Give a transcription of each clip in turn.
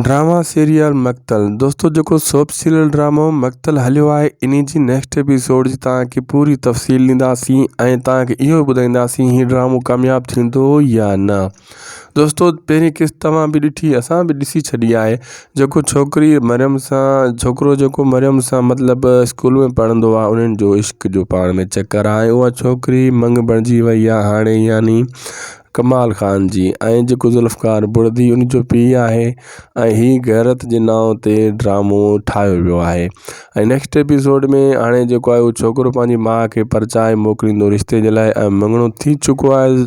drama serial Maqtal دوستو جيڪو soap serial ڊرامو مقتل هليو آهي انهي جي نيڪسٽ ايپيسوڊ جي تان کي پوري تفصيل ڏينداسين ۽ تان کي اهو ٻڌائينداسين هي ڊرامو ڪامياب ٿيندو يا نه دوستو پهرين قسط توهان به ڏٺي اسان به ڏسي ڇڏي آهي جيڪو ڇوڪري مريم سان ڇوڪرو جيڪو مريم سان مطلب اسڪول ۾ پڙهندو آهي انهن جو عشق جو پاڻ ۾ چڪر آهي اها ڇوڪري منڱ بڻجي وئي آهي هاڻي يعني ڪمال خان جي ۽ جيڪو ذوالفقار بڙدي ان جو پيء آهي ۽ هي غيرت جي نانء تي ڊرامو ٺاهيو ويو آهي ۽ نيڪسٽ ايپيسوڊ ۾ هاڻي جيڪو آهي اهو ڇوڪرو پنهنجي ماء کي پرچائي موڪليندو رشتي جي لاء ۽ مڱڻو ٿي چڪو آهي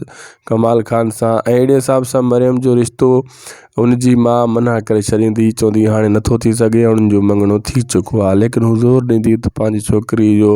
ڪمال خان سان ۽ اهڙي حساب سان مريم جو رشتو ان جي ماء منع ڪري ڇڏيندي چوندي هاڻي نٿو ٿي سگهي هاڻ ان جو مڱڻو ٿي چڪو آهي ليڪن هو زور ڏيندي ته پنهنجي ڇوڪري جو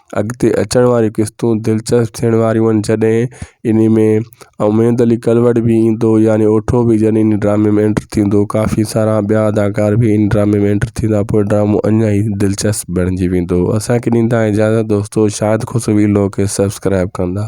اڳتي اچڻ واريون قسطون دلچسپ ٿيڻ واريون آهن جڏهن ان ۾ اميد علي ڪلوڙ به ايندو يعني اٺو به جڏهن ان ڊرامي ۾ اينٽر ٿيندو ڪافي سارا ٻيا اداڪار به ان ڊرامي ۾ اينٽر ٿيندا پوء ڊرامو اڃا ئي دلچسپ بڻجي ويندو اسانکي ڏيندا اجازت دوستو شاهد خسروي لوڪ کي سبسڪرائب ڪندا